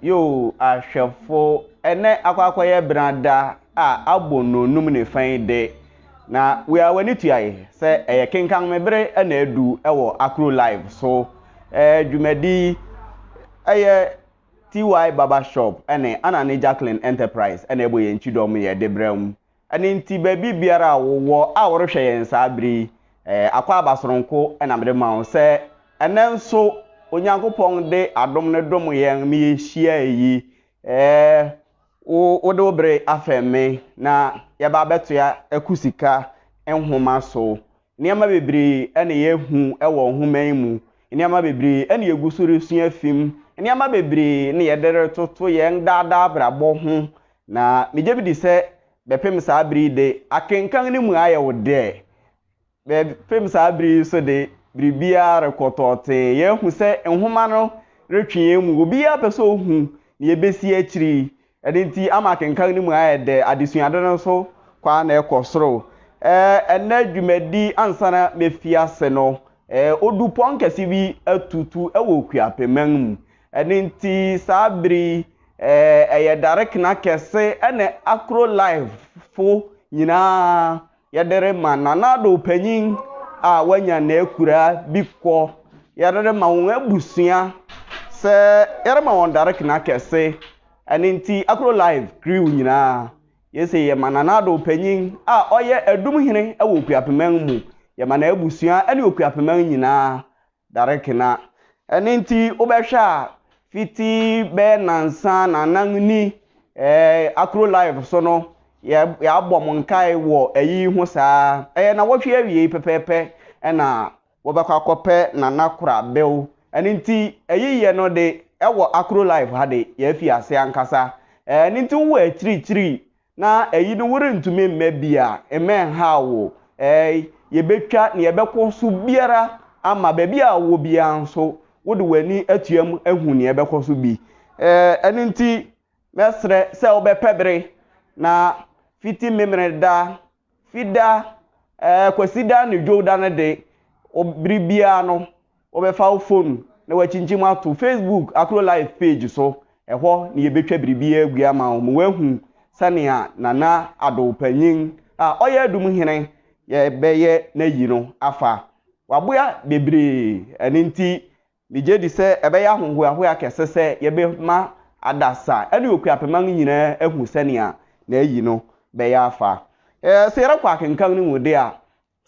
Yoo ahwɛfo, ɛnɛ akɔ akɔyɛ benada a abɔ nnɔnnum ne fã yi de, na wei a w'ani tua yi sɛ ɛyɛ kenkan me bere na adu wɔ Akro Live so. Ɛɛ dwumadi yi ɛyɛ TY Barber Shop ne Anane Jacqueline Enterprise na ɛbɔ yɛn kyidɔm yɛ de brɛ mo. Ɛno nti, baabi biara a wowɔ a worehwɛ yɛn saa bere yi, akwaaba soronko na mede ma wo sɛ ɛnnɛ nso Onyankopɔn de adom no dom yɛn ma yehyiae yi. Wode wo bere afɛm me, na yɛaba abɛtoa akusika nhoma so. Nneɛma bebree na yɛahu wɔ nhoma yi mu. Nneɛma bebree na yegu so resua afi mu. Nneɛma bebree na yɛde retoto yɛn daa daa abrabɔ ho. Na megye medi sɛ bɛpem saa bere yi de, akenkan no mu ayɛ wo dɛ. Bɛpem saa bere yi nso de, biribiara rekɔ tɔɔtee. Yɛahu sɛ nhoma no retwe yɛn mu. Obiara pɛ sɛ ohu nea ebesi akyiri yi. Ɛno nti, ama akenkan no mu ayɛ dɛ. Adesuade no nso kɔ ara na ɛkɔ soro. Ɛnnɛ dwumadi ansa na mefi ase no, odupɔn kɛse bi atutu wɔ Okuapeman mu. Ɛno nti saa bere yi ɛyɛ darekena kɛse ne Akro Lifefo nyinaa yɛde rema Nanado panyin a wanya n'akuraa bi kɔ. Yɛde rema wɔn abusua sɛ yɛrema wɔn darekena kɛse. Ɛno nti Akro Life crew nyinaa yɛsɛ yɛma Nanado panyin a ɔyɛ Adum Hene wɔ Okuapeman mu, yɛma n'abusua ne Okuapeman nyinaa dare kena. Ɛno nti wobɛhwɛ a fiti bɛyɛ nnansa nnanan ni ɛɛ Akuro Live so no yɛ yɛabɔ mo nkae wɔ ayi ho saa. Ɛyɛ nnawɔtwe awiei pɛpɛɛpɛ ɛna wobɛkɔ akɔpɛ Nana Korabel. Ɛno nti ayiyɛ no de ɛwɔ Akuro Live ha de yɛafi ase ankasa. Ɛɛ ɛno nti wowɔ akyirikyiri Na ɛyi no worentumi mmɛ bi a, mma ɛnhaw wo. Ɛɛi, yɛbɛtwa nea ɛbɛkɔ so biara ama. Baabi a wowɔ biara nso, wode w'ani atuam ahu nea ɛbɛkɔ so bi. Ɛɛ, ɛno nti mɛsrɛ sɛ wobɛpɛ bere na fiti Memeneda Fida, ɛɛ, Kwasida ne Dwowda no de, bere biara no, wobɛfa wo fon na woakyinkyim ato Facebook Akuro Live page so. Ɛhɔ na yɛbɛtwa biribiara agu ama wo ma woahu sɛnea Nana Addo Panyin a ɔyɛ Adum Hene yɛbɛyɛ n'ayi no afa. Waboa bebree, ɛno nti Migye di sɛ ɛbɛyɛ ahohoahoa kɛse sɛ yɛbɛma adasa ne Okuapema no nyinaa ahu sɛnea n'ayi no bɛyɛ afa. Sɛ yɛrekɔ akenkan no mu de a,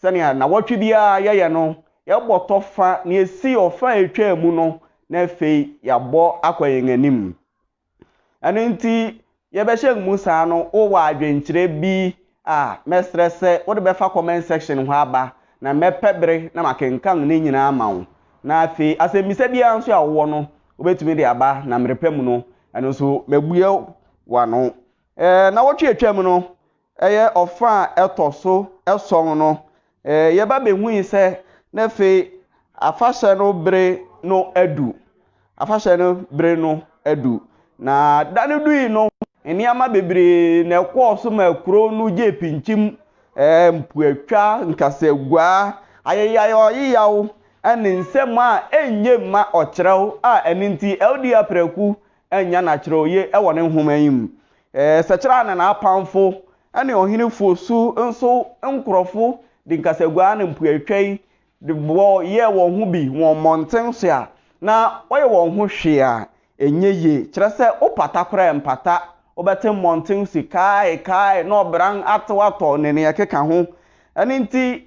sɛnea nnawɔtwe biara yɛyɛ no, yɛbɔ tɔ fa nea esii ɔfã a etwaa mu no na afei yɛabɔ akɔ yɛn anim. Ɛno nti, yɛbɛhyɛ mmusa no, wowɔ adwenkyerɛ bi a, mɛsrɛ sɛ wode bɛfa comment section hɔ aba, na mɛpɛ bere na makenkan ne nyinaa ama wo. Na afei, asɛmmisa biara nso a wowɔ no, wobɛtumi de aba, na mmerɛ pa mu no, ɛno nso, mɛbue w'ano. Nnawɔtwe a atwam no, ɛyɛ ɔfã a ɛtɔ so ason no, yɛba behui sɛ na afei afahyɛ no bere no adu. Afahyɛ no bere no adu. Na da no dui no, nneɛma bebree na ɛkɔɔ so maa kurow no gyee pinkyim. Mpoatwa, nkasaguaa, ayeyayɔyeyaw, ne nsɛm a enye mma ɔkyerɛw a ɛno nti Elder Apraku annya n'akyerɛwye wɔ ne nhoma yi mu. Sɛkyerɛ ne n'apamfo ne ɔhene Fosu nso nkurɔfo de nkasaguaa ne mpoatwa yi de bɔ yɛɛ wɔn ho bi wɔ mmɔnten so a na wɔyɛ wɔn ho hwee a ɛnyɛ yie, kyerɛ sɛ wopata koraa a ɛmpata, wobɛte mmɔnten se kae, kae, na ɔbran atew atɔ ne nea ɛkeka ho. Ɛno nti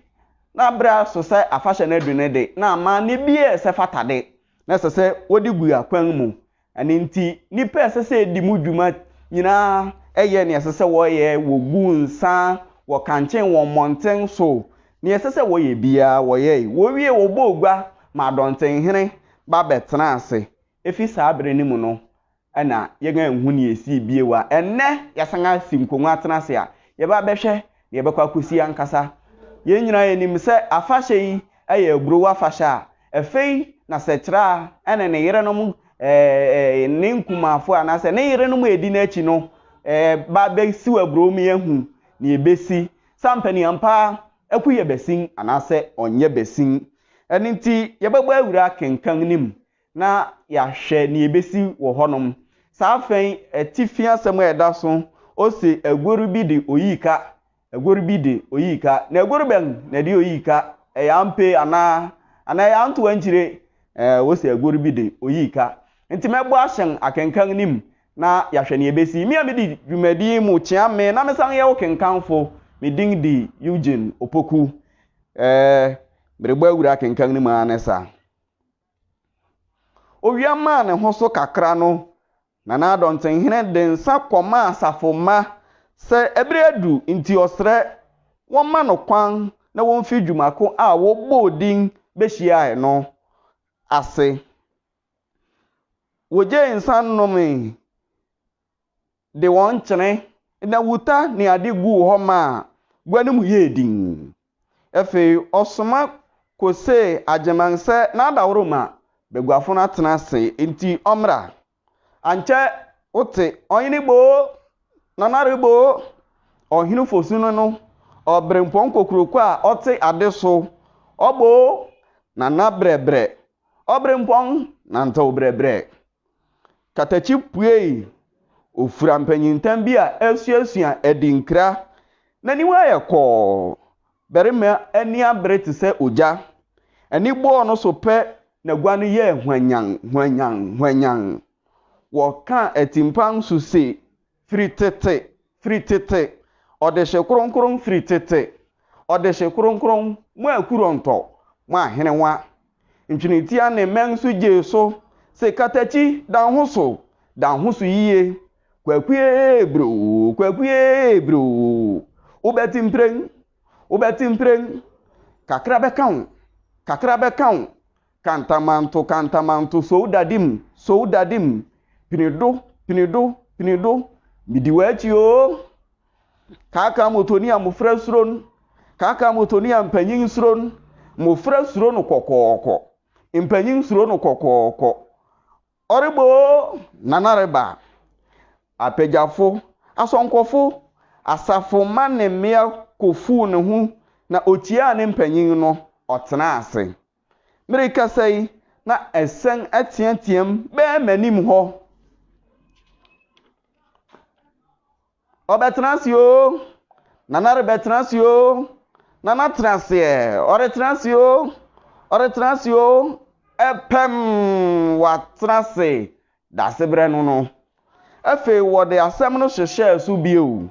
na bere aso sɛ afahyɛ no adu no de, na amanne biara a ɛsɛ fata de, na ɛsɛ sɛ wɔde gu akwan mu. Ɛno nti, nnipa a ɛsɛ sɛ edi mu dwuma nyinaa yɛ nea ɛsɛ sɛ wɔyɛ, wogu nsa, wɔkankyen wɔ mmɔnten so, nea ɛsɛ sɛ wɔyɛ biara wɔyɛe. Wowiei wɔbɔɔ gua maa dɔntenhene ba bɛtenaa ase. Efi saa bere no mu no, na yɛn anhu nea esii bio a, ɛnnɛ yɛasan asi nkongua atena ase a, yɛba abɛhwɛ nea ɛbɛkɔ akosi ankasa. Yɛn nyinaa yenim sɛ afahyɛ yi yɛ aburow afahyɛ a afei na Sɛkyerɛa ne ne yerenom, ne nkumaafo anaasɛ ne yerenom a edi n'akyi no ba abesiw aburow ma yɛahu nea ebesi. Sɛ ampa ni ampa ara Aku yɛ basin anaasɛ ɔnyɛ basin. Ɛno nti, yɛbɛbɔ awura akenkan no mu na yɛahwɛ nea ebesi wɔ hɔnom. Saa afã yi atifi asɛm a ɛda so, ose, Agoru bi de oyii ka, agoru bi de oyii ka. Na agoru bɛn na ɛde oyii ka? Ɛyɛ ampe anaa? Anaa ɛyɛ antow ankyire? Ɛɛ, wose agoru bi de oyii ka. Enti mɛbɔ ahyɛn akenkan no mu na yɛahwɛ nea ebesi. Me a midi dwumadi yi mu kyea me na mesan yɛ wo kenkanfo, me din de Eugene Opoku. Ɛɛ, merebɔ awura akenkan no mu ara ne saa. Owia maa ne ho so kakra no, Nana Adɔntenhene de nsa kɔmaa asafo mma sɛ bere adu nti ɔsrɛ wɔmma no kwan na womfi dwuma ko a wɔbɔɔ din behyiae no ase. Wogyee nsa nomee. de wɔn nkyene, nnawuta ne ade guu hɔ maa gua no mu yɛɛ dinn. Afei ɔsoma kosee Agyeman sɛ n'adaworoma baguafo no atena ase nti ɔmmra. Ankyɛ wote Ɔhene boo! Nanare boo! Ɔhene fosu no no, ɔberempɔn kokuroko a ɔte ade so, ɔboo! Nana brɛbrɛ! Ɔberempɔn nantew brɛbrɛ! Katakyi puei ofura mpanyintam bi a asuasua adinkra. N'aniwa ayɛ kɔɔ. Barima ani abere te sɛ ogya. Ani bɔɔ no so pɛ n'agua no yɛɛ hwanyann, hwanyann, hwanyann. Wɔka atimpan so se Firi tete, firi tete, Ɔdehye kronkron firi tete, Ɔdehye kronkron, mo akurontɔ, mo ahenewa, Ntwenentia ne mmɛn nso gyee so se katakyi, Da ho so, da ho so yiye, Kwakue broo, kwakue broo, Wobɛte mprɛn, wobɛte mprɛn, Kakra bɛka wo, kakra bɛka wo, Kantamanto, kantamanto, Soudadim, soudadim, Pinido, pinido, pinido, Midi w'akyi oo. Kaakaa motoni a mmofra suro no, Kaakaa motoni a mpanyin suro no, Mmofra suro no kɔkɔɔkɔ, Mpanyin suro no kɔkɔɔkɔ. Ɔreba oo, Nana reba. Apagyafo, asɔnkɔfo, asafo mma ne mmea kofuu ne ho na okyiaa ne mpanyin no, ɔtenaa ase. Merekasa yi, na asiane ateateam bɛn m'anim hɔ. Ɔbɛtena ase oo, Nana rebɛtena ase oo, Nana tena aseɛ, ɔretena ase oo, ɔretena ase oo, ɛpɛm, watena ase. Dasebrɛ no no. Afei wɔde asɛm no hyehyɛɛ so bio.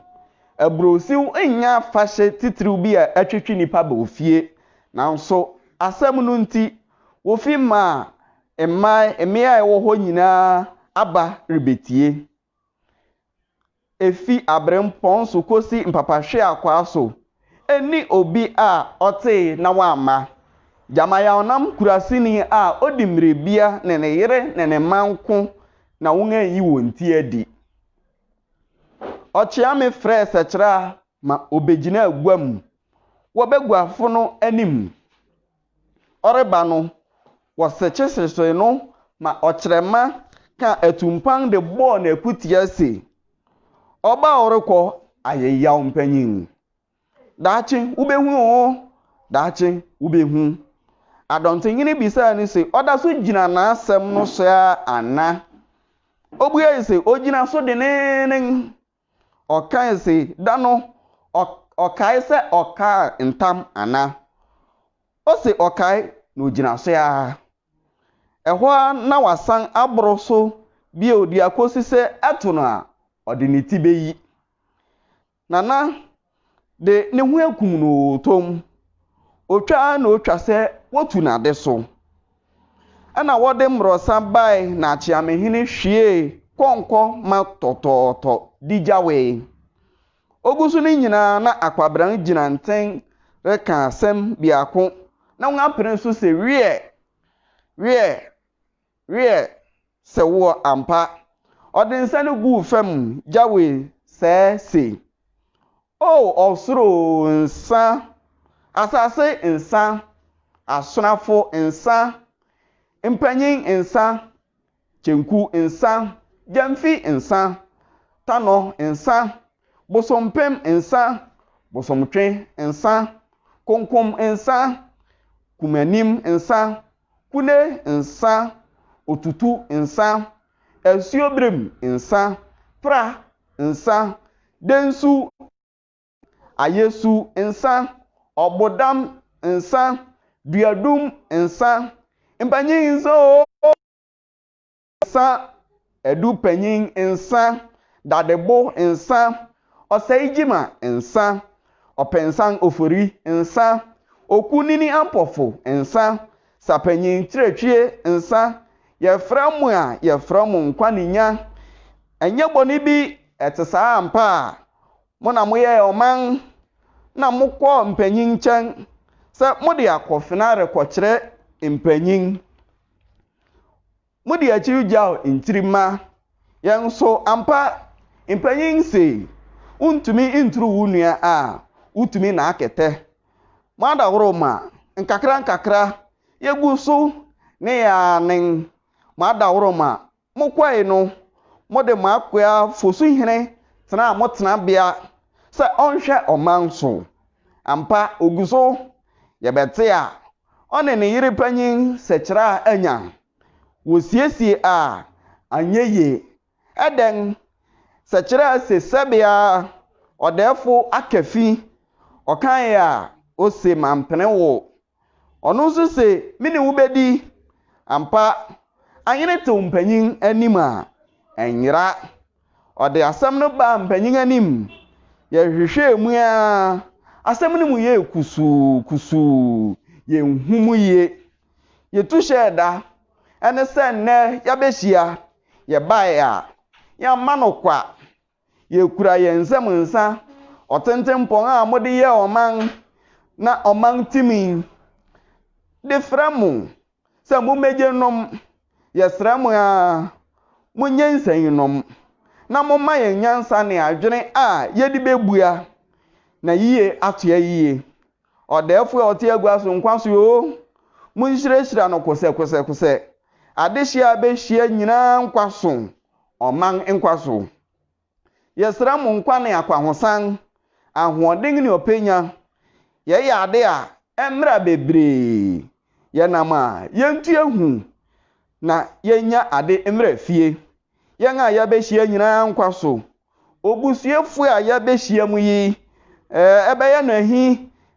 Aburohyew nyɛ afahyɛ titiriw bi a ɛtwetwe nnipa ba ofie, nanso asɛm no nti, wofi mmaa, mmae, mmea a ɛwɔ hɔ nyinaa aba rebetie. Efi aberempɔn so kosi mpapahweakwaa so, nni obi a ɔtee na wamma. Gyama Yawnam Kuraseni a odi mmirebea ne ne yere ne ne mma nko na wɔayi wɔn ti adi. Ɔkyea me frɛɛ Sɛkyerɛ a ma obegyinaa gua mu wɔ baguafo no anim. ɔreba no, wɔsekyesesee no ma ɔkyerɛmma kaa atumpan de bɔɔ no akutia se, Ɔba a ɔrekɔ ayɛ yaw mpanyin! Daakye wubehu oo, daakye wubehu! Adɔntenhene bisaa no se, Ɔda so gyina n'asɛm no so ara ana? Obuae se, Ogyina so denneennen. Ɔkae se, Da no, ɔ, ɔkae sɛ ɔkaa ntam anaa? Ose ɔkae, na ogyina so ara. Ɛhɔ ara na wasan aboro so bio de akosi sɛ ɛto no a, ɔde ne ti beyi. Nana, de ne ho akum no oo, tom, otwa ara na otwa sɛ wotu n'ade so. Ɛnna wɔde mmorɔsa bae na Akyeamehene hwiee kɔnkɔ ma tɔtɔɔtɔ de gyawee. Ogu so no nyinaa na Akwabran gyina nten reka asɛm biako na wapene so sɛ, Wiɛ! Wiɛ! Wiɛ, sɛ woɔ ampa. Ɔde nsa no guu fam gyawee sɛɛ se, O ɔsoro nsa, asase nsa, asonafo nsa, mpanyin nsa, kyenku nsa, gyamfi nsa, tanɔ nsa, bosompem nsa, bosomtwe nsa, konkom nsa, kumanim nsa, Kule nsa, otutu nsa, asuoberem nsa, pra nsa, densu nsa, ayesu nsa, ɔbodam nsa, duadum nsa, mpanyin nsa oo! nsa, adu panyin nsa, dadebo nsa, ɔsɛegyima nsa, ɔpɛnsan ofori nsa, oku nini ampɔfo nsa, sapanyin kyerɛtwie nsa, yɛfrɛ mo a yɛfrɛ mo nkwa ne nya. Ɛnyɛ bɔne bi, ɛte saa ampa a? Mo na moyɛɛ ɔman na mokɔɔ mpanyin nkyɛn sɛ mode akofena rekɔkyerɛ mpanyin Mode akyiri gyaw ntiri mma yɛn so ampa. Mpanyin se, Wuntumi nturu wo nua a, wutumi naa kɛtɛ. Mo adaworoma, nkakrankakra, yegu so ne yɛn anen. Mo adaworoma Mokɔe no, mode mo akoa Fosuhene tenaa mo tenabea sɛ ɔnhwɛ ɔman so. Ampa, ogu so. Yɛbɛte a, ɔne ne yere panyin Sekyerɛ a anya. Wosiesie a, anyɛ yie. Ɛdɛn? Sekyerɛ a se sɛbea ɔdɛɛfo aka fi, ɔkae a, ose mampene wo. Ɔno nso se, Me ne wo bedi. Ampa, ahene tew mpanyin anim a, ɛnyera. Ɔde asɛm no baa mpanyin anim. Yɛhwehwɛɛ mu ara, asɛm no mu yɛɛ kusuu kusuu, yenhu mu yiye. Yetu hyɛɛ da, ɛne sɛ nnɛ yɛabehyia. Yɛbae a, yɛamma no kwa. Yekura yɛn nsam nsa ɔtentenpɔn a mode yɛɛ ɔman na ɔman timii de frɛ mo sɛ mummegye nnom. Yɛsrɛ mo ara, monyɛ nsɛn nnom na momma yɛn nyansa ne adwene a yɛde bebua na yiye atoa yiye. Ɔdɛɛfo a ɔte agua so nkwa so oo, munhyirahyira no kosɛkosɛkosɛ, adehye a abehyia nyinaa nkwa so, ɔman nkwa so. Yɛsrɛ mo nkwa ne akwahosan, ahoɔden ne ɔpɛnya. Yɛyɛ ade a, ɛmmra bebree. Yɛnam a, yentu ehu na yennya ade mmra fie. Yɛn a yɛabehyia nyinaa nkwa so, Obusuafo a yɛabehyiam yi, ɛbɛyɛ no ahi,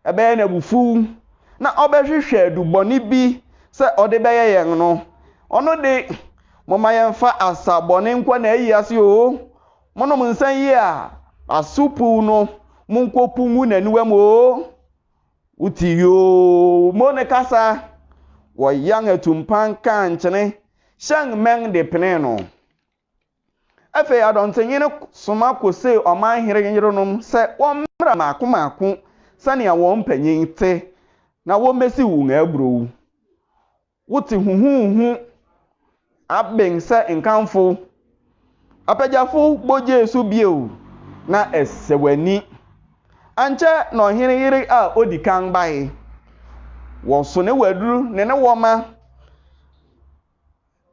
ɛbɛyɛ no abufuw, na ɔbɛhwehwɛ du bɔne bi sɛ ɔde bɛyɛ yɛn no, ɔno de, momma yɛmfa asa bɔne nkɔ n'ayi ase oo, monom nsã yi a aso puw no, munkopu ngu n'aniwam oo. Wote yoo mo ne kasa! Wɔyan atumpan kaa nkyene, hyɛn mmɛn de penee no. Afei adɔnkyenyi no soma kosee ɔman hene yerenom sɛ wɔmmra mmaako mmaako sɛnea wɔn mpanyin te, na wommesiw wɔn aburow. Wote huhuuhu aben sɛ nkamfo, apɛgyafo bɔ gyee so bio, na ɛsɛ w'ani. Ankyɛ na ɔhene yere a odi kan bae. Wɔso ne waduru ne ne wɔma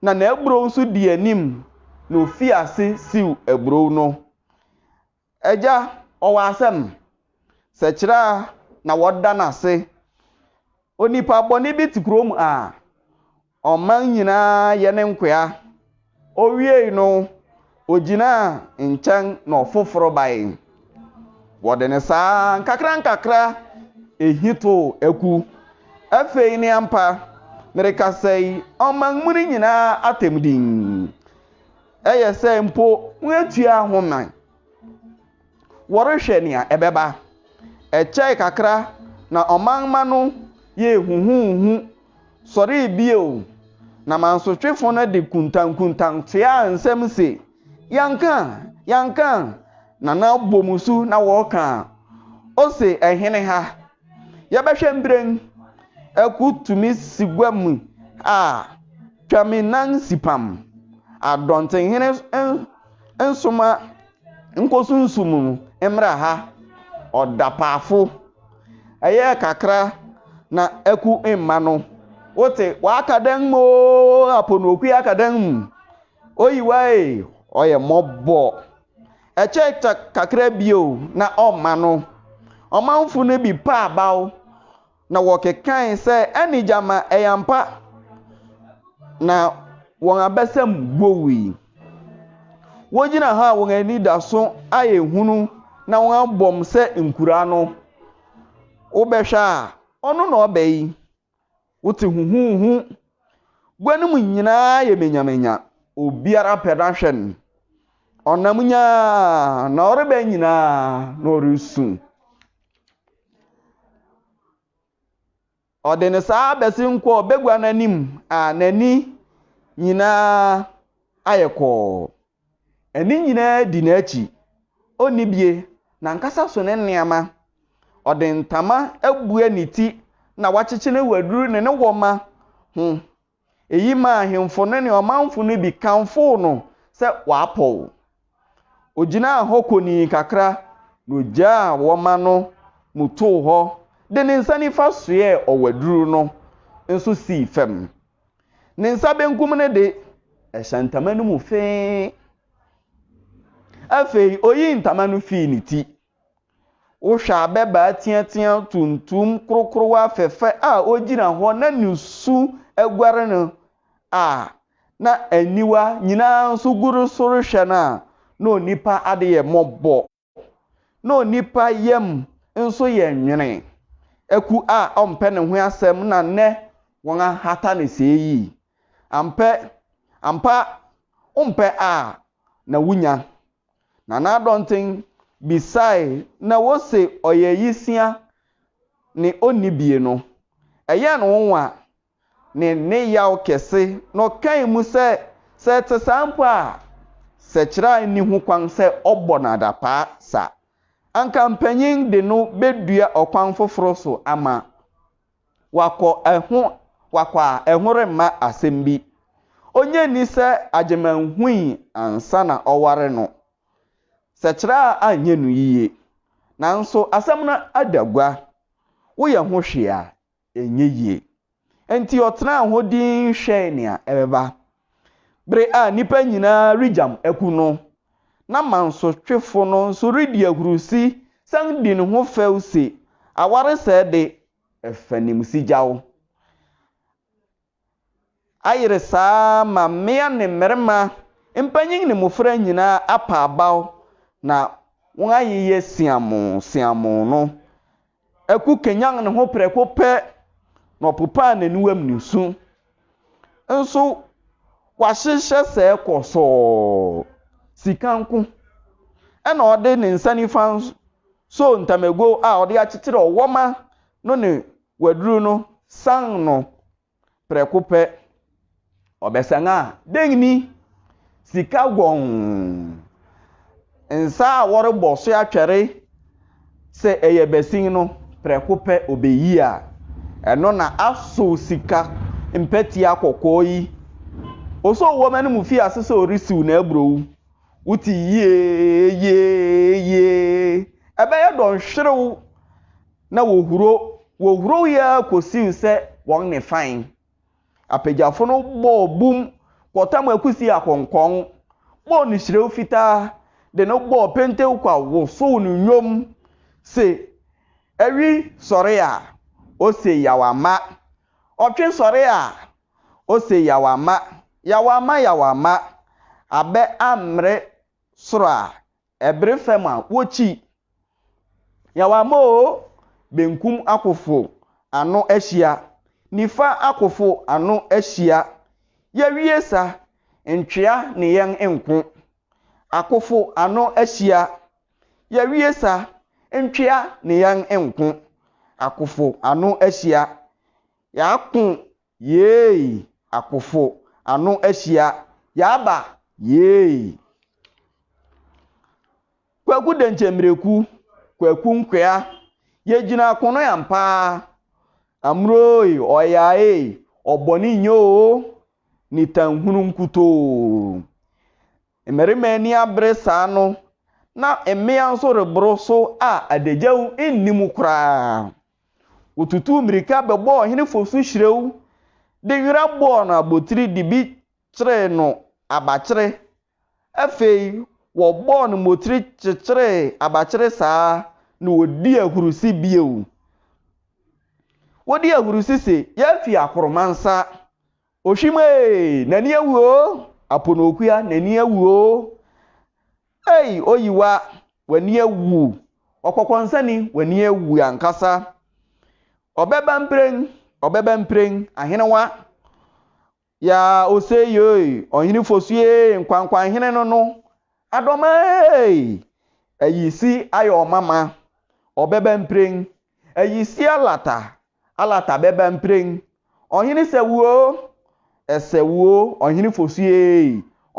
na n'aburow nso dii anim na ofii ase siw aburow no. Agya, ɔwɔ asɛm? Sɛ kyerɛ a na wɔda no ase. Onipa bɔne bi te kurom a, ɔman nyinaa yɛ ne nkoa. Owiei no, Ogyinaa nkyɛn na ɔfoforo bae. Wɔde no saa nkakrankakra ehi too aku. Afei ne ampa, merekasa yi, ɔman mu no nyinaa atɛm dinn. Ɛyɛ sɛ mpo wɔatua ho man. Wɔrehwɛ nea ɛbɛba. Ɛkyɛe kakra na ɔman mma no yɛɛ huhuuhu sɔree bio, na mansotwefo no de kuntankuntan toaa nsɛm se, Yɛanka! Yɛanka! na na wɔbɔ mu su na wɔreka. Ose ɛhene ha. Yɛbɛhwɛ mprɛn. Aku tumi si gua mu a, twa me nan si pam. Adɔntenhene nsoma Nkosunsum mu mbra ha ɔda paafo. Ɛyɛ kakra na ɛku mma no. Wote w'aka dan mu oo Aponookwi aka dan mu. Oyiwa ee ɔyɛ mɔbɔ. Ɛkyɛ ta kakra bio na ɔma no. Ɔmanfo no bi pa abaw. na wɔkekae sɛ, Ɛne gyama, ɛyɛ ampa! Na wɔn abasam bowii. Wogyina hɔ a wɔn ani da so ayɛ hunu na wɔabɔm sɛ nkura no. Wobɛhwɛ a, ɔno na ɔba yi? Wote huhuuhu. Gua no mu nyinaa ayɛ manyamanya. Obiara pɛ no ahwɛ no. Ɔnam nyaa na ɔreba nyinaa na ɔresu. Ɔde ne saa abɛsen kɔ bagua no anim a n'ani nyinaa ayɛ kɔɔ. Ani nyinaa di n'akyi. Onni bie. N'ankasa so ne nneɛma. Ɔde ntama abue ne ti na wakyekye ne waduru ne ne wɔmma ho. Eyi maa ahemfo no ne ɔmanfo no bi kamfoo no sɛ wapɔw. Ogyinaa hɔ konii kakra na ogyaa wɔma no mu too hɔ de ne nsa nifa soɛɛ ɔwaduru no nso sii fam. Ne nsa benkum no de, ɛhyɛ ntama no mu fee. Afei oyii ntama no fii ne ti. Wohwɛ abɛbaa teateaa tuntum korokorowa fɛfɛ a ogyina hɔ na ne su aguare no a, na aniwa nyinaa nso gu no so rehwɛ no a, na onipa ade yɛ mmɔbɔ. Na onipa yam nso yɛ nwene. Aku a ɔmpɛ ne ho asɛm na nnɛ wɔahata no sɛɛ yi. Ampɛ, ampa wompɛ a na wunya Nana Adɔnten bisae na wose ɔyɛ Yisia ne onni bie no. Ɛyɛɛ no nwonwa ne ne yaw kɛse na ɔkae mu sɛ sɛ ɛte saa mpo a Sɛkyerɛ nni ho kwan sɛ ɔbɔ no adapaa sa. Anka mpanyin de no bedua ɔkwan foforo so ama Wakɔ ɛho wakɔ a ɛho remma asɛm bi. Onnye nni sɛ Agyeman hui ansa na ɔware no. Sɛkyerɛ a anyɛ no yiye. Nanso asɛm no ada gua. Woyɛ ho hwee a, ɛnyɛ yie. Enti ɔtenaa ho dinn hwɛe nea ɛbɛba. Bere a nnipa nyinaa regyam aku no, na mansotwefo no nso redi ahurusi san di ne ho fɛw se, Awaresɛe de, ɛfa nim sigyaw. Ayere saa ma mmea ne mmarima, mpanyin ne mmofra nyinaa apa abaw na wɔayeyɛ siamoo siamoo no. Aku kanyan ne ho prɛko pɛ, na ɔpopaa n'aniwam nusu. Nso wahyehyɛ sɛɛ kɔsɔɔ. Sika nko na ɔde ne nsa nifa soo ntamagow a ɔde akyekyere ɔwɔma no ne waduru no san no Prɛko pɛ, ɔbɛsan a, dɛn ni? Sika gɔnn! Nsa a wɔrebɔ so atwɛre sɛ ɛyɛ basin no, prɛko pɛ obeyi a, ɛno na asow sika mpɛtea kɔkɔɔ yi. Osoo wɔn anim fii ase sɛ ɔresiw n'aburow. Wote yee, yee, yee! Ɛbɛyɛ dɔnhwerew! Na wɔhuro, wɔhuro yi ara kɔsii sɛ wɔn ne fann apagyafo no bɔɔ bum kɔtam akusi akɔnkɔn, bɔɔ no hyirɛw fitaa, de no bɔɔ pentewkwa wosow no nnwom se, Awi sɔre a, ose Yaw ama, ɔtwe sɔre a, ose Yaw ama, Yaw ama, Yaw ama, abɛ ammere soro a, Ɛbere fam a wokyi. Nyawamma o, benkum akofo ano ahyia, nifa akofo ano ahyia, yɛawie sa, ntwea ne yɛn nko. Akofo ano ahyia, yɛawie sa, ntwea ne yɛn nko. Akofo ano ahyia, yɛako Yeei akofo ano ahyia yɛaba yeei. Kwaku Denkyemmireku Kwaku Nkwea yɛgyina akono ampa Amurooy ɔyaaee ɔbɔne nyɛ oo Nitanhunu nkutoo Mmarima ani abere saa no na mmea nso reboro so a Adagyaw nni mu koraa. Wotutuu mmirika bɛbɔɔ ɔhene fo so hyirew de nwera bɔɔ no abotiri de bi kyeree no abakyere. Afei wɔbɔɔ no mmotiri kyekyeree abakyere saa na wodii ahurusi bio. Wodii ahurusi se, Yɛafi akoromansa! Ohwim ee, n'ani awu oo! Aponookua, n'ani awu oo! Ei, Oyiwa, w'ani awu! Ɔkɔkɔnsani, w'ani awu ankasa! Ɔbɛba mprɛn, ɔbɛba mprɛn, ahenewa! Yaa, osei ei, Ɔhene Fosu ei, Nkwankwanhene no no, Adoma ei! Ayisi ayɛ ɔmama, ɔbɛba mprɛn, Ayisi alata, Alata bɛba mprɛn. Ɔhene sɛw oo, ɛsɛw oo, ɔhene fosu eei,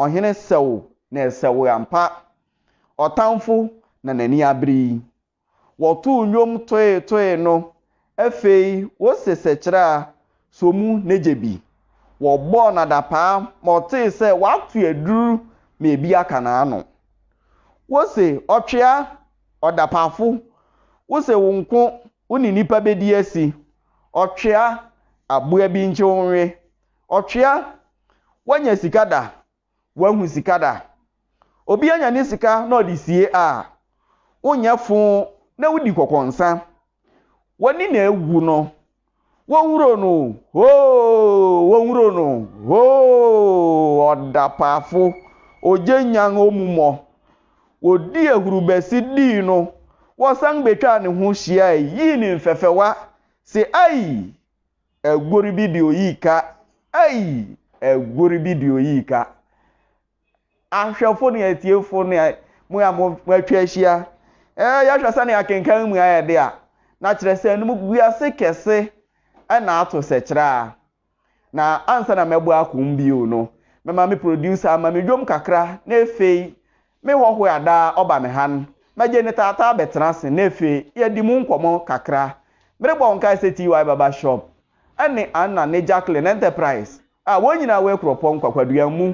ɔhene sɛw na ɛsɛw ampa. Ɔtamfo na n'ani abere yi. Wɔtoo nnwom toe toe no, afei wose sɛkyerɛ a, sɔ mu na gye bi. Wɔbɔɔ no adapaa ma ɔtee sɛ wato aduru ma ebi aka n'ano. Wose ɔtwea, ɔdapaafo, wose wo nko Wo ne nnipa bɛdi asi. Ɔtwea, aboa bi nkye wo nwe. Ɔtwea, woanya sika da, woahu sika da. Obi anya ne sika na ɔde sie a, wonyɛ fo na wodi kɔkɔnsa. W'ani na awu no, wɔnhuro no o, hoo, wɔnhuro no o, hoo, ɔdapaafo, ogye nyan omummɔ. Wɔdii ahurubɛsi dii no, wɔsan bɛtwaa ne ho hyiae yii no mfɛfɛwa se, Ai! Aguori bi de oyii ka! Ai! Aguori bi de oyii ka! Ahwɛfo ne atiefo ne mo a moatwa ahyia, yɛhwɛ sɛnea akenkan yi mu ayɛ de a, na kyerɛ sɛ animguase kɛse na ato sɛ kyerɛ a. Na ansa na mɛbɔ akoo bio no, mɛma me producer ama me dwom kakra na efei me hɔhoe adaa ɔba me han, mɛgye ne taataa bɛtena ase na efei yɛadi mu nkɔmmɔ kakra. Merebɔ wo nkae sɛ TY Barber Shop ne Anna ne Jacqueline Enterprise a wɔn nyinaa wɔ Akuropɔn Nkwakuaduam mu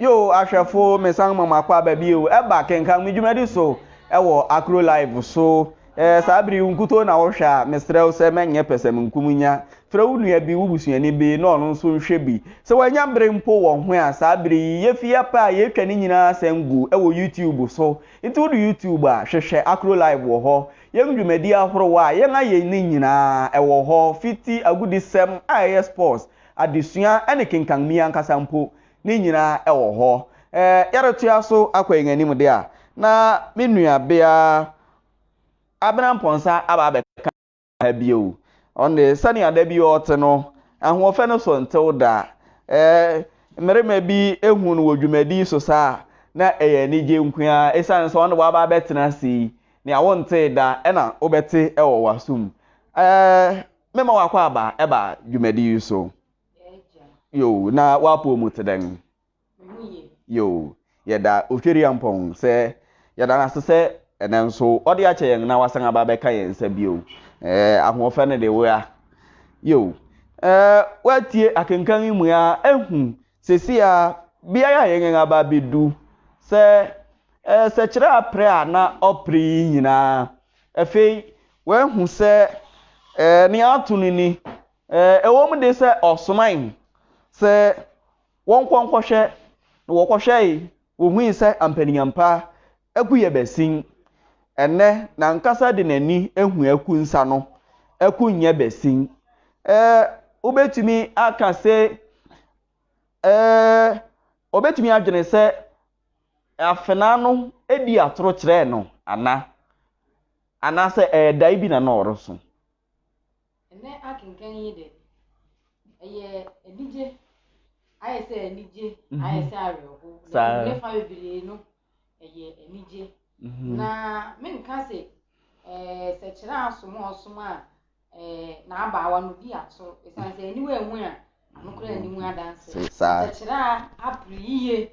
yo ahwɛfo mesan ma mo akɔ aba bio ɛba kenkan me dwumadi so ɛwɔ akro live so ɛɛ saa bere nkutoo na wɔhwɛ a mesrɛ wo sɛ mɛnyɛ pɛsɛmenkominya Frɛ wo nua bi, wo busuani bi, na ɔno nso nhwɛ bi. Sɛ wannya bere mpo wɔ ho a, saa bere yi, yefi yɛn pɛ a yetwa ne nyinaa asan gu wɔ YouTube so. Enti wudu YouTube a, hwehwɛ Akro Live wɔ hɔ. Yɛn dwumadi ahorow a yɛn ayɛ no nyinaa, ɛwɔ hɔ, fi ti, agodisɛm a ɛyɛ sports, adesua, ne kenkan mi ankasa mpo, ne nyinaa ɛwɔ hɔ. Ɛ, yɛretoa so akɔ yɛn anim de a, na me nuabea Abena Mponsah aba abɛka. bio. Ɔne sɛnea da bi ɔte no, ahoɔfɛ no so ntew da. Ɛɛ, mmarima bi ehu no wɔ dwumadi so saa a, na ɛyɛ anigye nko ara. Esiane sɛ ɔne waba abɛtena ase yi, nea wontee da na wobɛte wɔ w'asom. Ɛɛ, mema w'akwaaba ba dwumadi yi so. Yoo, na w'apɔw mu te dɛn? Yiw, yɛda Otweriampɔn sɛ yɛda no ase sɛ ɛnnɛ nso ɔde akyɛ yɛn na wasan aba abɛka yɛn nsa bio. Ɛɛ, ahoɔfɛ no de woa. Yiw, ɛɛ, woatie akenkan yi mu a, ehu sɛsi a beae a yɛn aba abedu sɛ ɛɛ, sɛkyerɛ aprɛ a na ɔpre yi nyinaa. Afei, woahu sɛ ɛɛ, nea ato no ni, ɛɛ, ɛwom de sɛ ɔsomae sɛ wɔnkɔ nkɔhwɛ, na wɔkɔhwɛe, wohui sɛ ampa ne ampa, aku yɛ basin. Ɛnnɛ, n'ankasa de n'ani ahu aku nsa no, aku nyɛ basin. Ɛɛ, wobɛtumi aka sɛ, ɛɛ, ɔbɛtumi adwene sɛ afenaa no di atoro kyerɛɛ no ana? Anaasɛ ɛyɛ dae bi na na ɔreso? Ɛnnɛ akenkan yi de, ɛyɛ anigye, ayɛ sɛ anigye, mhm. ayɛ sɛ awerɛho. Saa. Ne fa bebree no, ɛyɛ anigye. Mhm. Na menka sɛ ɛɛ eh, sɛ kyerɛ asom a ɔsom a ɛɛ eh, n'abaawa no di ato esan sɛ aniwa ehu a anokora anim adanse. Sɛ kyerɛ a apere yiye.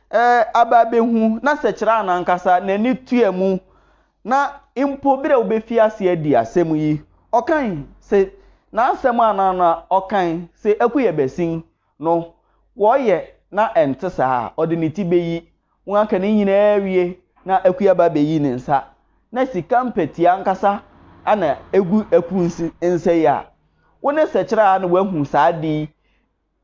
Ɛɛ, aba abehu, na sɛ kyerɛa no ankasa, n'ani tua mu, na mpo bere a obefi ase adi asɛm yi, ɔkae se, N'asɛm anan no a ɔkae se ɛko yɛ basin no, wɔyɛ na ɛnte saa a, ɔde ne ti beyi. Wɔaka ne nyinaa awie, na akuaba abeyi ne nsa, na sika mpɛtea ankasa na egu akuw nsa yi a wo ne sɛ kyerɛa no wahu saa ade yi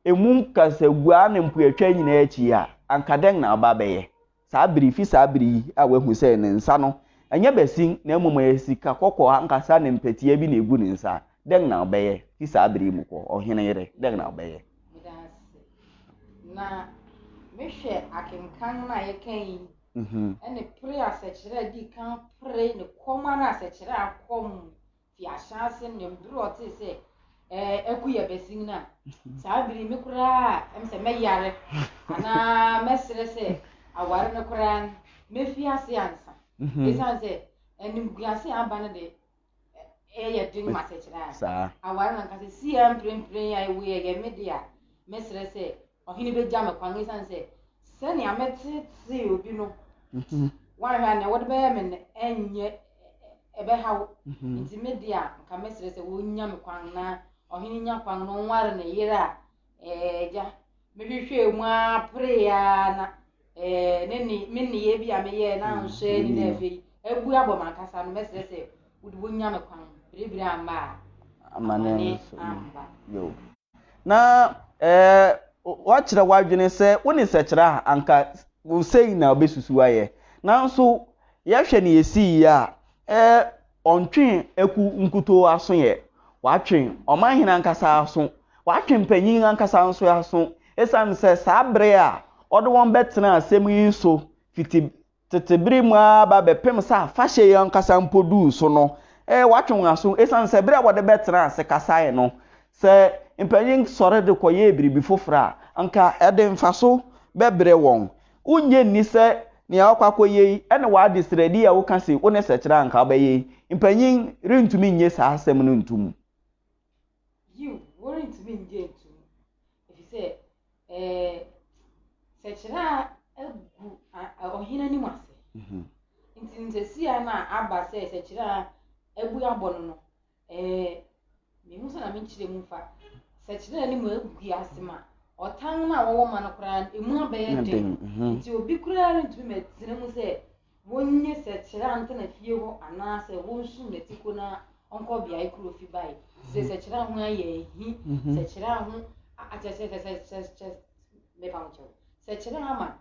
emu nkasaguaa ne mpoatwa nyinaa akyi yi a, anka dɛn na aba abɛyɛ? Saa bere yi, fi saa bere yi a wahu sɛ ne nsa no, ɛnyɛ basin na mmom ɛyɛ sika kɔkɔɔ ankasa ne mpɛtea bi na egu ne nsa, dɛn na ɔbɛyɛ? Fi saa bere yi mu kɔ, ɔhene yere, dɛn na ɔbɛyɛ? Meda ase. Na mehwɛ akenkan no a yɛkan yi, ɛne pere asɛkyerɛ a edi kan pere ne kɔm ara asɛkyerɛ a kɔm fi ahyɛase na bere ɔtee sɛ ɛku yɛ bɛsin no a saa bere me koraa ɛm sɛ mɛyare anaa mɛsrɛ sɛ aware no koraa no mɛfi ase ansa ɛsiane sɛ animguase a aba no de ɛyɛ den ma sɛkyerɛ a aware no ankasa si a mprempren a ɛwei ɛyɛ me de a mɛsrɛ sɛ Ɔhene begya me kwan esiane sɛ sɛnea meteetee obi no, wanhwɛ a nea wɔde bɛyɛ me no nyɛ ɛbɛhaw. Enti me de a, nka mɛsrɛ sɛ wonnya me kwan na ɔhene nya kwan na ɔnware ne yere a agya. Mehwehwɛɛ mu ara peree ara na ne ne me nneyɛe bi a meyɛe na anso ani na afei abu abɔ m'ankasa no, mɛsrɛ sɛ wode wonnya me kwan. Biribiri amma a, amane amma. na woakyerɛ w'adwene sɛ wo ne sɛkyerɛ a anka sei na ɔbɛsusu ayɛ. Nanso yɛhwɛ nea ɛsii yi a, ɔntwe akuw nkutoo aso ɛ, watwe ɔmanhene ankasa aso, watwe mpanyin ankasa nso aso, esiane sɛ saa bere a ɔde wɔn bɛtenaa asɛm yi so fiti Tete bere mu ara ba bɛpem sɛ afahyɛ yi ankasa mpo duu so no, ee, wɔatwe wɔn aso esiane sɛ bere a wɔde bɛtenaa ase kasae no, sɛ mpanyin sɔre de kɔyɛɛ biribi foforo a, anka ɛde mfaso bɛbrɛ wɔn. Wunnye nni sɛ nea woakɔ akɔyɛ yi ne w'adesrɛde yi a woka se wo ne sɛkyerɛ a anka wobɛyɛ yi, mpanyin rentumi nnye saa asɛm no ntom. Yiw, worentumi nnye ntom, efisɛ ɛɛ sɛkyerɛ a agu ɔhene anim ase. Mhm. Nti ntesia no a aba sɛ sɛkyerɛ a abu abɔ no no, ɛɛ mehu sɛ na menkyerɛ mu fa sɛkyerɛ a anim agu ase ma ɔtan no a wɔwɔ ma no koraa emu abɛyɛ den. Mhm. Nti obi koraa rentumi mɛtena mu sɛ Wonnye sɛ Kyerɛa ntena fie hɔ anaasɛ wonsu ne ti ko na ɔnkɔ beae koro ofi bae. Sɛ sɛ Kyerɛa ho ayɛ ahi, sɛ Kyerɛa ho akyɛ sɛ sɛ sɛ sɛ mepa ho kyɛw. Sɛ Kyerɛa ama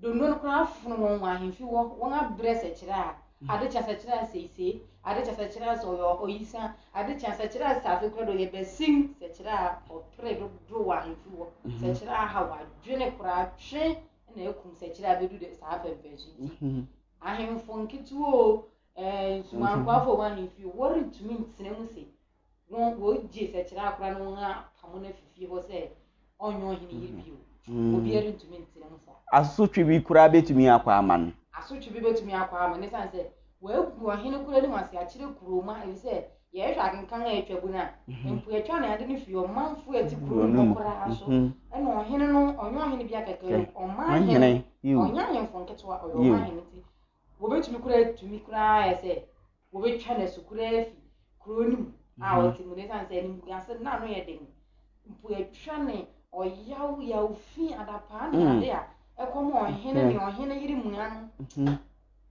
Dondo no koraa afono wɔn wɔ ahemfi hɔ, wɔn abrɛ sɛ Kyerɛa. Ade kye a sɛ Kyerɛa seisei, ade kye a sɛ Kyerɛa sɛ ɔyɛ ɔyisa, ade kye a sɛ Kyerɛa sɛ afe koraa de ɔyɛ basin, sɛ Kyerɛa ɔpere dodow wɔ ahemfi hɔ, sɛ Kyerɛa haw adwene koraa twe na akum sɛkyerɛ a bɛdu saa apɛmpɛnso nti mhm. ahemfo nketewa o nsumankoafo wɔ ahemfi o wɔrentumi ntena mu se wɔgye sɛkyerɛ akora no wɔn apam mhm. no afifie hɔ sɛ ɔnyɛ ɔhene yɛ bio obiara rentumi ntena mu saa asotwe bi koraa bɛtumi akɔ ama no asotwe bi bɛtumi akɔ ama no ɛsiane sɛ wɔagu ɔhene koro anim ase akyerɛ kuroma ɛfisɛ Yɛhwɛ akenkan a atwabu no a, mhm. mpo yɛtwa ne ade no fi ɔmanfo a ɛte kuro no mu koraa so. Mhm. Ɛna ɔhene no, ɔnyɛ ɔhene bi akɛkɛ, ɔman hene, ɔnyɛ ahemfo nketewa, ɔyɛ ɔman hene ti. Wɔbɛtumi koraa tumi koraa yɛ sɛ wɔbɛtwa no asu koraa fi kuro no mu a mhm. ɔte mu no ɛsiane sɛ animguase na ano yɛ den. Mpo yɛtwa ne ɔyaw yaw fi adapaa ne ade a ɛkɔm ɔhene ne ɔhene yere mua no.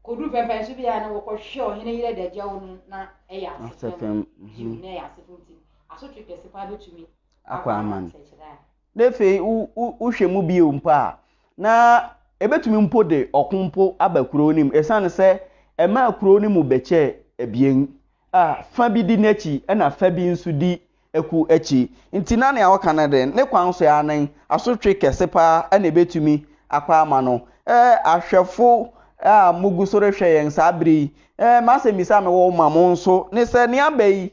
Koduu pɛmpɛn so biara no, wɔkɔhwehwɛɛ ɔhene yere adagyaw no, na ɛyɛ asefo fam. Yiw, na ɛyɛ asefo nti, asotwe kɛse paa betumi akɔ ama no. Na afei wohwɛ mu bio mpo a, na ebetumi mpo de ɔko mpo aba kurow no mu, esiane sɛ ɛmaa kurow no mu bɛkyɛɛ abien a fa bi di n'akyi na fa bi nso di aku akyi. Nti na nea ɔka no de, ne kwan so ara nen, asotwe kɛse paa na ebetumi akɔ ama no. Eh, ahwɛfo a mugu so rehwɛ yɛn saa bere yi, eh, m'asɛmmisa a mewɔ ma mo nso ne sɛ, nea bɛ yi,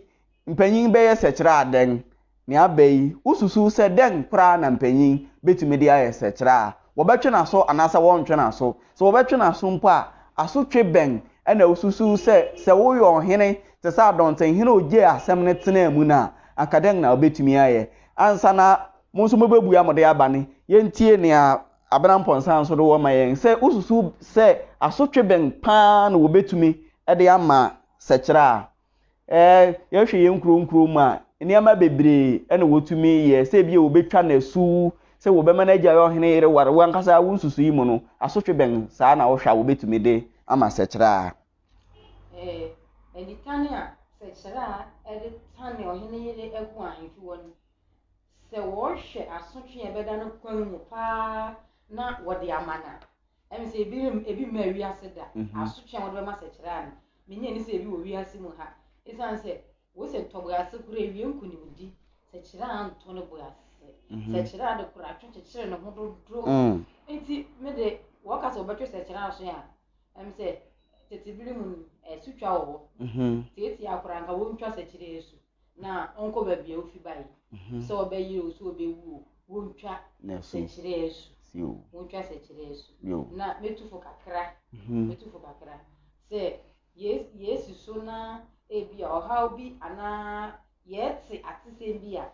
mpanyin bɛyɛ sɛkyerɛ a dɛn? Nea bɛ yi, wususuw sɛ dɛn koraa na mpanyin betumi de ayɛ sɛkyerɛ a wɔbɛtwe n'aso anaasɛ wɔrentwe n'aso? Sɛ wɔbɛtwe n'aso mpo a, asotwe bɛn na wususuw sɛ sɛ woyɛ ɔhene te sɛ adɔntenhene a ogyee asɛm no tenaa mu no a, anka dɛn na wubetumi ayɛ? Ansa na mo nso mubebua mo de aba no, yentie nea Abena Mponsah nso de wɔ ma yɛn. Sɛ wususuw sɛ asotwe bɛn paa na wobetumi de ama sɛkyerɛ a, Yɛhwɛ yɛn nkuro nkuro mu a, nneɛma bebree na wɔtumi yɛ, sɛ ebia wɔbɛtwa no asu, sɛ wɔbɛma no agyae ɔhene yere ware. W'ankasa wo nsusuiɛ mu no, asotwe bɛn saa na wohwɛ a wɔbɛtumi de ama Sɛkyerɛaa? Nitane a Sɛkyerɛaa de tane ɔhene yere agu ahemfi hɔ no, sɛ wɔhwɛ asotwe a ɛbɛda no kwan mu paa na wɔde ama no a, Ɛmi sɛ ebi rem ebi mmaa wiase da. Asotwe a wɔde bɛma sɛ kyerɛ a no, minnye nni sɛ ebi wɔ wiase mu ha. Esiane sɛ wose ntɔ bo ase kura awie nkonimdi, sɛ kyerɛ a ntɔ ne bo ase. Sɛ kyerɛ a de kora atwe kyekyere ne ho dodo. Enti me de, wɔka sɛ wɔbɛtwe sɛ kyerɛ aso a, ɛm sɛ tete bere mu no, asutwa wɔ hɔ. Seesei ara koraa anka wontwa sɛ kyerɛ asu. na ɔnkɔ baabi a wofi bae mhm. sɛ ɔbɛyere o sɛ ɔbɛwu o wontwa sɛkyerɛ asu wontwa sɛkyerɛ asu na mɛtu fo kakra mhm. mɛtu fo kakra sɛ yɛsi so na ebi a ɔhaw bi anaa yɛte atesɛm bi a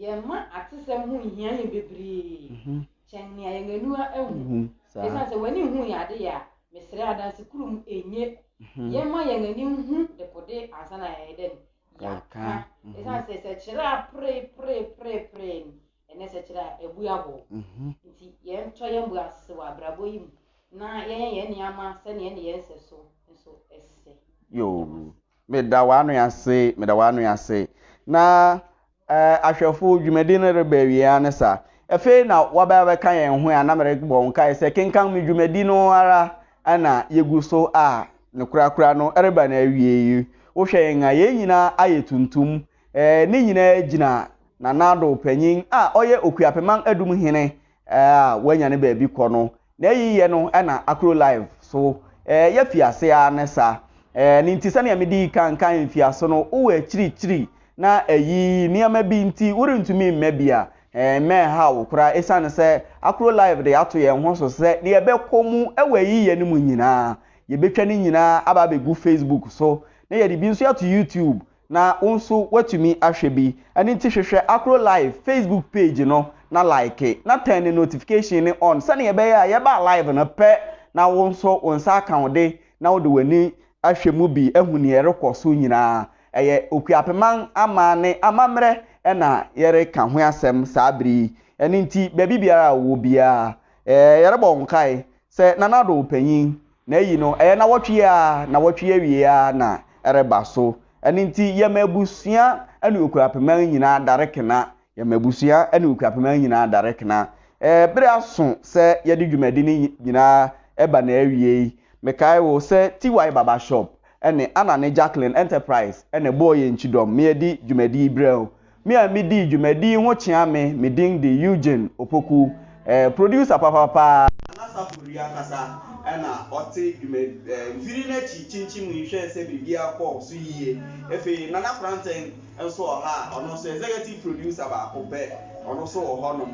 yɛma atesɛm ho nhia yɛn bebree mhm. kyɛn nea yɛn aniwa ahu mhm. ɛsiane sɛ w'ani hu yɛ ade yɛ a mesrɛ adanse kurom ɛnyɛ mhm. yɛma yɛn ani hu dekode ansa na yɛyɛ dɛn Yɛka ɛsiane sɛ sɛkyerɛ a pereperepereperee no ɛnɛ sɛkyerɛ a ɛbu abɔw mhm. nti yɛntɔ yɛn bu ase wɔ abrabɔ yi mu na yɛnyɛ yɛn nneɛma sɛnea ɛne yɛn nsɛ so nso ɛsɛ yoo meda w'ano ase meda w'ano ase na Ɛɛ, ahwɛfo, dwumadi no reba awiei ara ne saa. Afei na wɔaba abɛka yɛn ho a na merebɔ wo nkae sɛ kenkan me dwumadi no ara na yegu so a ne korakora no reba n'awiei. Wohwɛ yɛn a, yɛn nyinaa ayɛ tuntum. Ɛɛ, ne nyinaa gyina Nana Addo, panyin a ɔyɛ Okuapemang Adum hene a wanya ne baabi kɔ no Na eyi yɛ no na akro live so eh yɛ fi ase aa ne sa eh ne nti sɛnea me dii kan kae mfiaso no wo wɔ akyirikyiri na eyi nneɛma bi nti wo rentumi mmɛ bi a eh mma ɛnhaw wo koraa esiane sɛ akro live de ato yɛn ho so sɛ deɛ ɛbɛkɔ mu wɔ eyi yɛ no mu nyinaa yɛbɛtwa ne nyinaa aba abɛgu facebook so na yɛde bi nso ato youtube Na wo nso woatumi ahwɛ bi. Ɛno nti hwehwɛ Akro Live Facebook page no na like na turn ne notification no on sɛnea ɛbɛyɛ a yɛba live no pɛ na wo nso wo nsa aka wo de na wode w'ani ahwɛ mu bi ahu nea ɛrekɔ so nyinaa. Ɛyɛ Okuapeman aman ne amammerɛ na yɛreka ho asɛm saa bere yi. Ɛno nti baabi biara a wowɔ biara, yɛrebɔ wo nkae sɛ Nana Addo Panyin Na eyi no, ɛyɛ nnawɔtwe a nnawɔtwe awiei ara na ɛreba. So ɛno nti yɛma abusua ne okuapemma nyinaa dare kena? Yɛma abusua ne okuapemma nyinaa dare kena. Ɛɛ, bere aso sɛ yɛde dwumadi no nyinaa ba n'awiei. Mekae wo sɛ TY Barber Shop ne Anna ne Jacqueline Enterprise na ɛbɔɔ yɛn kyidɔm ma yɛde dwumadi yi brɛɛ wo. Me a midii dwumadi yi ho kyea me, me din de Eugene Opoku, eh, producer papa paa. Anasafo Ri ankasa na ɔte dwuma eh, mfiri no akyi kyinkyim yi hwɛɛ sɛ biribiara kɔɔ so yiye. Afei Nana Korankyen nso wɔ ha a, ɔno nso executive producer baako pɛ, ɔno nso wɔ hɔnom.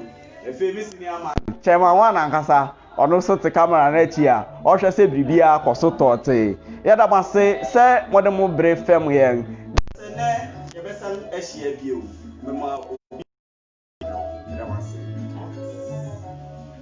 Afei me senior man, Chairman One ankasa, Ɔno nso te kamera no akyi a ɔhwɛ sɛ biribiara kɔ so tɔɔtee. Yɛda mo ase sɛ mode mo bere fɛm yɛn. Sɛ nnɛ yɛbɛsan ahyia bio, mema obi a ɔbɛka me ho. Meda mo ase.